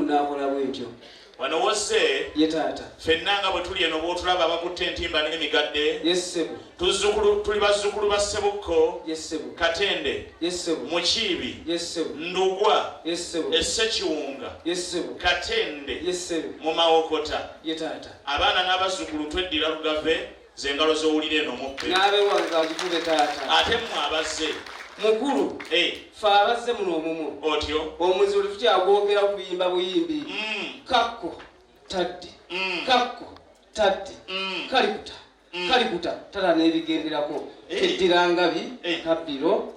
n'akola bw'etyo. Wano w'ozze. Ye taata. Ffenna nga bwe tuli eno bw'otulaba abakutte entimba n'emigadde. Ye ssebo. Tuzzukulu, tuli bazzukulu ba Ssebukko. Ye ssebo. Katende. Ye ssebo. Mukiibi. Ye ssebo. Ndugwa. Ye ssebo. E Ssekiwunga. Ye ssebo. Katende. Ye ssebo. Mu Mawokota. Ye taata. Abaana n'abazzukulu tweddira Lugave. Ze ngalo z'owulira eno muppe. N'abewange azikube taata. Ate mmwe abazze. Mukulu. Eh. Ffe abazze muno omumwo. Otyo. Omuzuli tukyagwogera okuyimba buyimbi. Mm. Kakko tadde. Mm. Kakko tadde. Mm. Kalikuta. Mm. Kalikuta tala n'ebigenderako. Eh. Eddira ngabi. Eh. Kabbiro.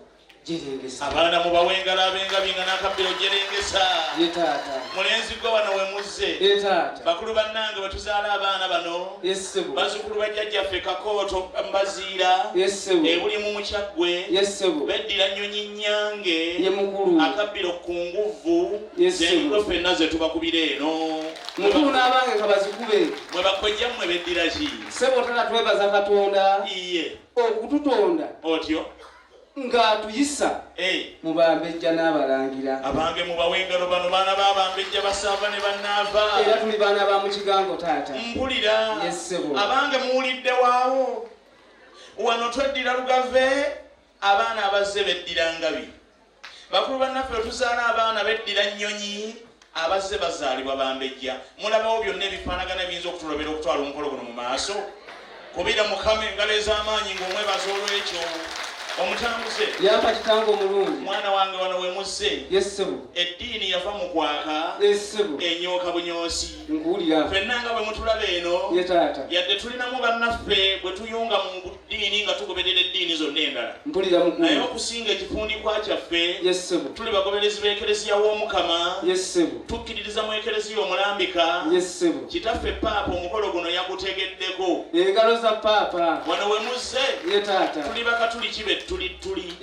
abaana mubawe engalo abengabiinga n'akabbiro jerengesa mulenzi gwe wano we muzze bakulu bannange bwe tuzaala abaana bano bazukulu bajjajjaffe kakooto mbaziira ebuli mu mukyaggwe beddira nnyonyi nnyange akabbiro ku nguvvu zenkulo fenna ze tubakubira eno mukulu n'abange nga bazikube mwe bakojja mmwe beddira ki sebo tala twebaza katonda iye okututonda otyo ng'atuyisa mu bambejja n'abalangira abange mubawe engalo bano baana ba bambejja basaava ne bannaava era tuli baana ba mu kigango taata mpulira yessebo abange muwulidde waawo wano tweddira lugave abaana abazze beddira ngabi bakulu bannaffe otuzaala abaana beddira nnyonyi Abazze bazaalibwa Bambejja, mulabawo byonna ebifaanagana ebiyinza okutulobera okutwala omukolo guno mu maaso? Kubira Mukama engalo ez'amaanyi ng'omwebaza olw'ekyo. Omutambuze. Yampa kitange omulungi. Mwana wange wano we muzze. Yes, ssebo. Eddiini yava mu kwaka. Yes, ssebo. Enyooka bunyoosi. Nkuwulira. Ffenna nga bwe mutulaba eno. Ye taata. Yadde tulinamu bannaffe bwe tuyunga mu ddiini nga tugoberera eddiini zonna endala naye okusinga ekifundikwa kyaffe tuli bagoberezi b'ekereziya w'omukama tukkiririza mu ekereziya omulambika kitaffe paapa omukolo guno yagutegeddeko engalo za paapa wano we muzze tuli bakatuliki be tuli tuli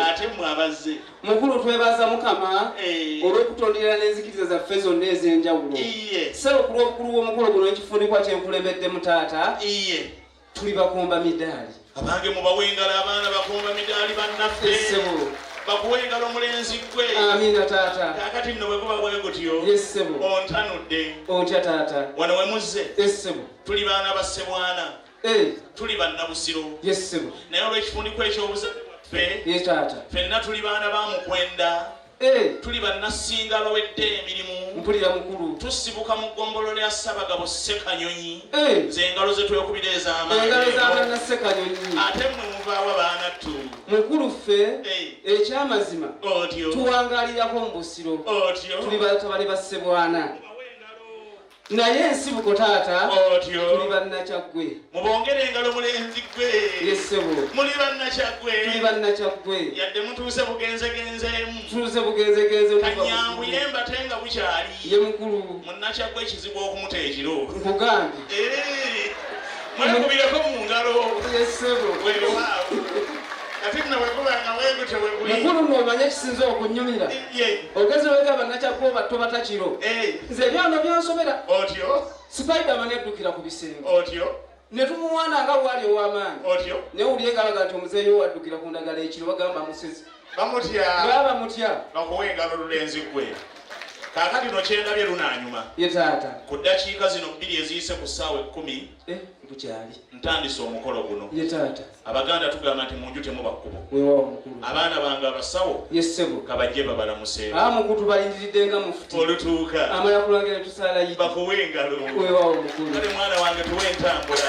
ate mwe abazze mukulu twebaza mukama eh. olw'okutondera n'enzikiriza zaffe zonna ez'enjawulo sebo ku lw'obukulu bw'omukolo guno ekifundikwa kyenkulembeddemu taata tuli bakomba midaali abange mubawe engalo abaana bakomba midaali bannaffe bakuwe engalo omulenzi gwe amina taata kakati nno bweguba bwe gutyo yessebo ontanudde ontya taata wano we muzze essebo tuli baana ba ssebwana eh. tuli bannabusiro yessebo naye olw'ekifundikwa eky'obuzaffe ye taata fenna tuli baana ba mukwenda Eh! Tuli bannassinga abawedde emirimu. Mpulira mukulu. Tusibuka mu ggombolola ya Ssabagabo Ssekanyonyi. Eh! Nze engalo ze twekubira ez'amaanyi. Engalo za bannassekanyonyi. Ate mmwe muvaawa baanattu. Mukulu ffe eh. ekyamazima tuwangaalirako mu Busiro. Tuli batabani ba Ssebwana. naye ensibuko taata otyo tuli bannakyaggwe mubongere engalo mulenzi gwe yesebo muli bannakyaggwe tuli bannakyaggwe yadde mutuuse bugenzegenzeemu tuuse bugenzegenze kanyanguye mbate nga bukyali ye mukulu munnakyaggwe ekizibu okumuta ekiro nkugambye eh. mwekubireko mu ngalo mukulu nomanya ekisinza okunyumira ogezi wegamba nakyakuoba toba takiro nze ebyano byansobera sipaidamani eddukira ku bisenge netumuwana nga bwali owamaanyi newulire galaga nti omuzeeyi owaddukira ku ndagala ekiro bagamba musezi bamutya baba mutya bakuwa engalo lulenzi gwe kaakati no kyendabye lunaanyuma ye taata ku ddakiika zino bbiri eziyise ku ssaawa ekkumi eh, bukyali ntandise omukolo guno ye taata abaganda tugamba nti munju temuba kkubo wewawo mukulu abaana bange abasawo ye ssebo kabajje babalamuseeko aa mukutu balindiridde nga mufuti olutuuka amala kulangira tusaala yi bakuwa engalo wewawo mukulu kale mwana wange tuwa entambula